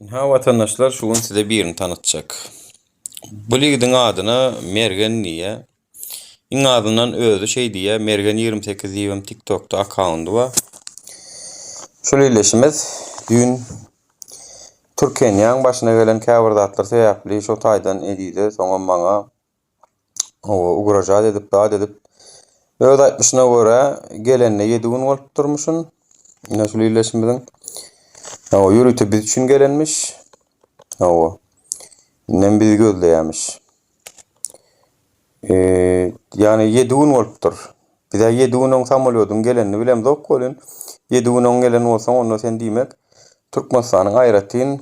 Ynha watandaşlar şu gün size birini tanatjak. Bu ligidiň adyna Mergen diýýär. Iň azyndan özi şeý diýýär, Mergen 28 diýibem TikTokda akkaundy bar. Şol ildeşimiz düýn Türkeniýaň başyna gelen käbir zatlar sebäpli şo taýdan Ezize, soňam maňa Hawa, ugražat edip, zat edip. Öz aýtmyşyna görä, gelenine ýedi gün bolup durmuşyn. Ine şul illeşimiziň. Hawa, ýörite biz üçin gelenmiş. Hawa. Indem bizi gözleýämiş. Eee, ýagny ýedi gün bolupdyr. Bizä ýedi gün oň samolýodyň gelenini bilemzok welin, ýedi gün oň gelen bolsaň, onda sen diýmek, Türkmenistanyň aýratyn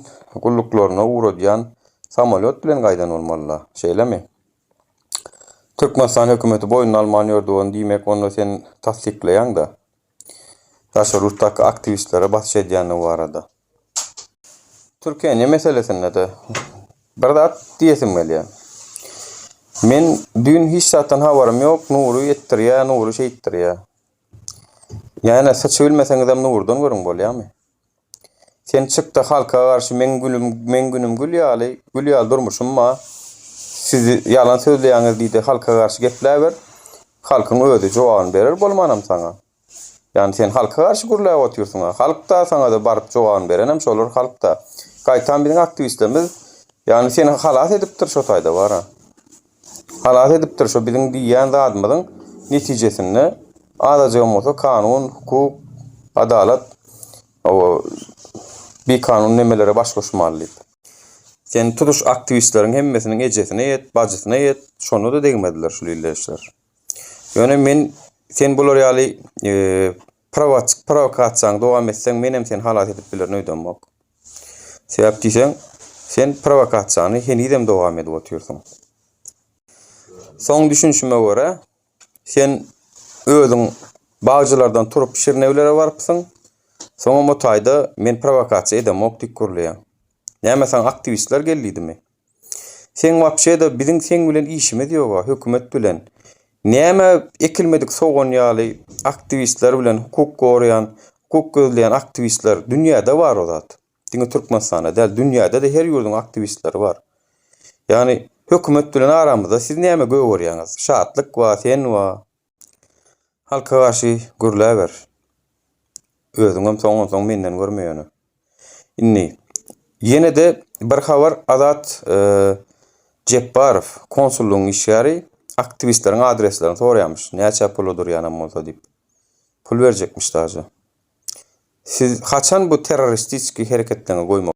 gulluklaryna ugradýan samolýot bilen gaýdan bolmaly-la, şeýlemi? Türkmenistan hökümeti boýnuna alman ýördi ony, diýmek, onda sen tassyklaýaň-da, daşary ýurtdaky aktiwistlere basyş edýändigi barada. Türkeniýe meselesinde-de bir zat diýesim gelýär. Men düýn hiç zatdan habarym ýok, Nury etdirýär, Nury şeýtdirýär. Ýäne syçy bilmeseňizem Nurdan görüň bolýamy? Sen çykda halka garşy meň gülüm meň günüm gül ýaly, gül ýaly durmuşym bar. Siz ýalan sözleýäňiz diýde halka garşy gepläber. Halkyň özi jogabyny berer bolmanam saňa. Ýagny sen halka garşy gürläp otyrsyňa. Halkda saňada baryp jogabyny berenem şolar halkda. Gaýtam biziň aktiwistlerimiz ýagny seni halas edipdir şo taýda bara. Halas edipdir şo biziň diýýän zadymyzyň netijesinde azajygam bolsa kanun, hukuk, adalat o bikanun nemelere baş goşmaly diýip. Sen tutuş aktiwistleriň hemmesiniň ejesine ýet, bajysyna ýet, şonda-da degmediler şul illeşler. Ýöne men sen bular ýaly prowokasiýaňy dowam etseň, men hem seni halas edip bilerin öýdemok. Sebäp diýseň, sen prowokasiýaňy henizem dowam edip otyrsyň. Soň düşünişime görä, sen özüň bagçylardan turup Şirnewlere barypsyň. Soňam o taýda men prowokasiýa edemok diýip gürleýäň. Näme saňa aktiwistler geldiýdimi? Seň wapşeda biziň seň bilen işimiz ýoga hökümet bilen näme ekilmedik sogan ýaly aktiwistler bilen hukuk goraýan hukuk gözleýän aktiwistler dünýäde bar o zat diňe türkmenistanda däl dünýädede her ýurduň aktiwistleri bar ýagny hökümet bilen aramyzda siz näme gögerýäňiz şatlyk bar sen bar Halka garşy gürläber. Özüňem soňunsoň menden görme ýöne. Indi ýene-de bir habar Azat e, Jepbarow, konsullygyň işgäri aktiwistleriň adreslerini soraýarmyş. Näçe pula durýanam bolsa diýip. Pul berjekmiş daže. Siz haçan bu terroristiki hereketleriňi goýmak